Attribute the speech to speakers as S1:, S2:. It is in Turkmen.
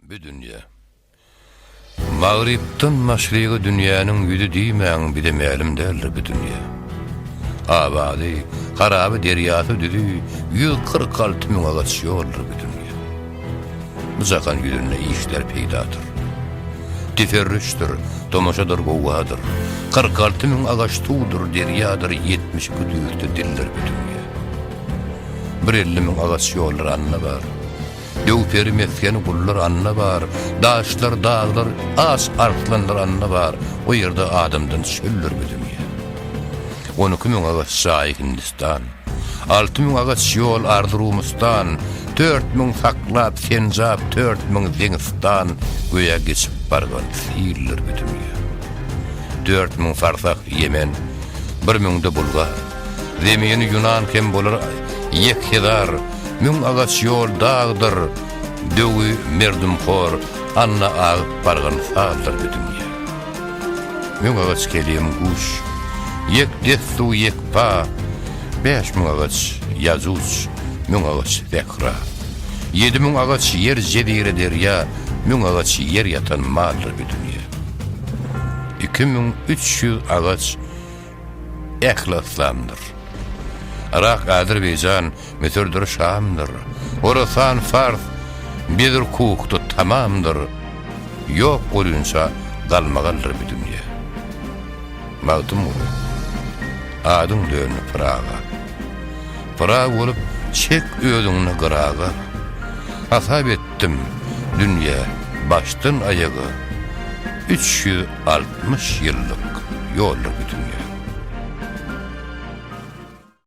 S1: Bi dünýe. Magrypdan maşryga dünýäniň ýüzi diýmäň bize mälim däldir bi dünýe. Abazy, haraby derýasy düzi ýüz kyrk alty müň agaç ýoldur bi dünýe. Bu jahan ýüzünde işler peýdadyr. Teferrüşdir, tomaşadyr gowadyr. Kyrk alty müň agaç suwdur, derýadyr ýetmiş iki düýrde dildir bi dünýe. Bir elli müň agaç ýoldur anna bar. Döw-peri mesgeni gullar anna bar, Daşlar, daglar, aç arslanlar anna bar, O ýerde adamdan çöller bu dünýä. On iki müň agaç jaý Hindistan, Alty müň agaç ýol Arzyrumustan, Dört müň saklap Senjap, Dört müň Deňistan, Göýä geçip bargan sildir bu dünýä. Dört müň farsak Ýemen, Bir müňde Bulgar, Zemini ýunan hem bolar ýekjezar, Müň agaç ýol dagdyr, döwi merdumhor, Anna agyp bargan sazdyr bu dünýä. Müň agaç kelim guş, ýek dessu ýekpa, Bäş müň agaç ýajuj, müň agaç sähra, Ýedi müň agaç ýer jezire derýa, Müň agaç ýer ýatan maldyr bu dünýä. Iki müň üç ýüz agaç, Ähli yslamdyr. Yrak, Azerbaýjan, Müsürdir, Şamdyr. Horasan, Fars, Bedir, Kuhdy, Tamamdyr. Ýok bolýunça galmagaldyr bu dünýe. Magtymguly, adyň döndi Pyraga. Pyragy bolup, çek özüňni gyraga. Hasap etdim, dünýe, başdan-aýaga, üç ýüz Altmyş ýyllyk ýoldur bu dünýä.